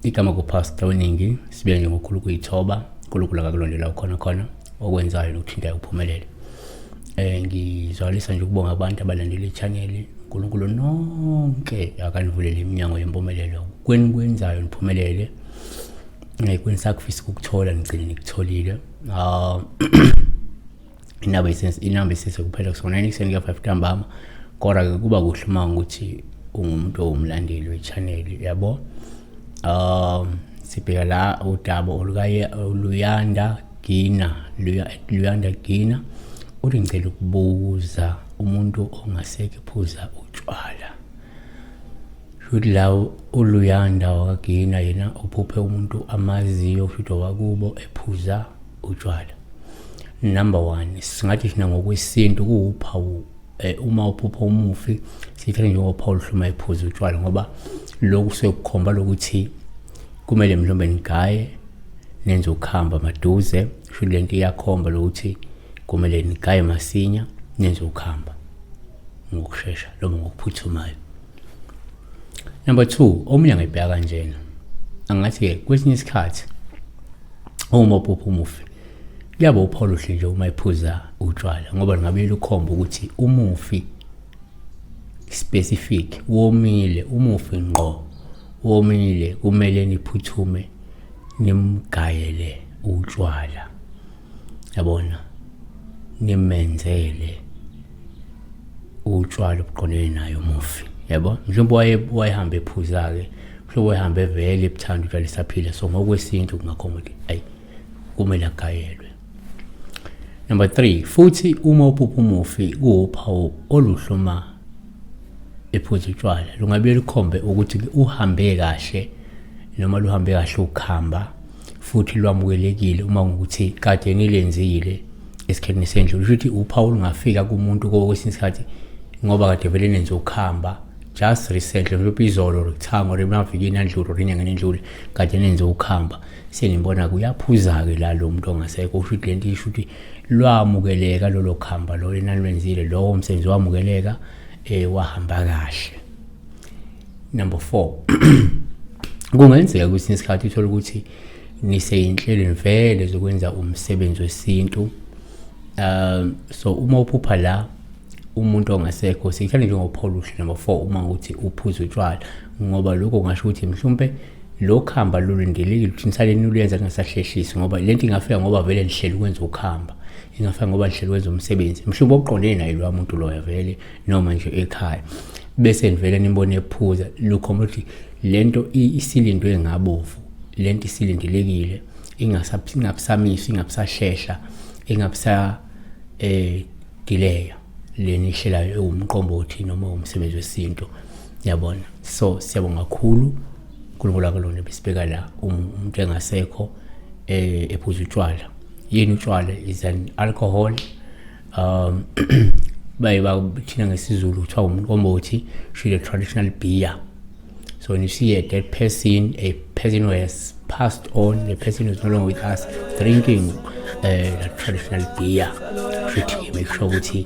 igama kupastor weningi sibuya nje ngokhulu kuyithoba unkulunkulu akakulondela ukhona khona okwenzayo nokuthintayo kuphumelele um eh, ngizwalisa nje ukubonga abantu abalandela ichaneli unkulunkulu nonke akanivulele iminyango yempumelelo kweni kwenzayo niphumelele ngayikho nisakufisa ukukuthola ngigcine nikutholile um inamba isense inamba isense kuphela kusona yini kuseni kuya 5 ntambama kodwa ke kuba kuhle uma ukuthi ungumuntu owumlandeli wechaneli yabo um sibheka la udaba olukaye oluyanda gina luyanda gina uthi ngicela ukubuza umuntu ongasekephuza utshwala shuthi la uluyanda wakagina yena uphuphe umuntu amaziyo shuthi owakubo ephuza utshwala number one singathi thina ngokwesintu kuwuphawu eh, uma uphupha umufi sithathe njengophawu luhluma ephuza utshwala ngoba lokhu sekukhomba lokuthi kumele mhlawumbe nigaye nenze ukuhamba maduze sho le nto iyakhomba lokuthi kumele nigaye masinya nenze ukuhamba ngokushesha noma ngokuphuthumayo number two omunye angayibheka kanjena angathi-ke kwesinye isikhathi uma uphupha umufi kuyaba uphawu luhle nje uma ephuza utshwala ngoba lingabe lukhomba ukuthi umufi specific womile umufi ngqo womile kumele niphuthume nimgayele utshwala yabona nimenzele utshwala obuqondene nayo umufi yabo mhlawumbe waye wayehamba ephuza ke mhlawumbe wayehamba evele ebuthanda utshwala esaphila so ngokwesintu kungakhomba ukuthi ayi kumele agayelwe number 3 futhi uma uphupha umufi kuwuphawu oluhloma ephuza utshwala lungabe lukhombe ukuthi uhambe kahle noma luhambe kahle ukuhamba futhi lwamukelekile uma ngokuthi kade ngilenzile esikhathini sendlu lusho ukuthi uphawu lungafika kumuntu kwesinye isikhathi ngoba kade vele nenze ukuhamba just recently mhlawumbe izolo rithamo remavikini andlulu rinyangeni endlule kade nenze ukuhamba sengimbona kuyaphuza-ke la lo muntu ongasekho usho ukuthi le nto isho ukuthi lwamukeleka lolo khamba lolo enalwenzile lowo msebenzi wamukeleka eh wahamba kahle number 4 kungenzeka kwesinye isikhathi uthole ukuthi niseyinhlelweni vele zokwenza umsebenzi wesintu um so uma uphupha la umuntu ongasekho sithanda njengophawula uhlu number 4 uma ukuthi uphuza utshwala ngoba lokho kungasho ukuthi mhlawumpe lo khamba lulindelekile ukuthi nisale niluyenza kungasahlehlisi ngoba le nto ingafika ngoba vele nihlele ukwenza ukuhamba ingafika ngoba nihlele ukwenza umsebenzi mhlawumbe okuqondene naye lowa muntu loyo vele noma nje ekhaya bese nivele nimbone ephuza lukhomba ukuthi le nto isilindwe ngabovu le nto isilindelekile ingabusamiswa ingabusahlehla ingabusa um dileya le nihlelayo ewumqombothi noma umsebenzi wesintu yabona so siyabonga kakhulu uNkulunkulu akulona besibeka la um-, umuntu engasekho eh ephuza utshwala yini utshwala is an alcohol um baye bathina ngesizulu kuthiwa umuntu omothi she the traditional beer so when you see a dead person a person who has passed on the person who's no longer with us drinking uh, the traditional beer treat him make sure ukuthi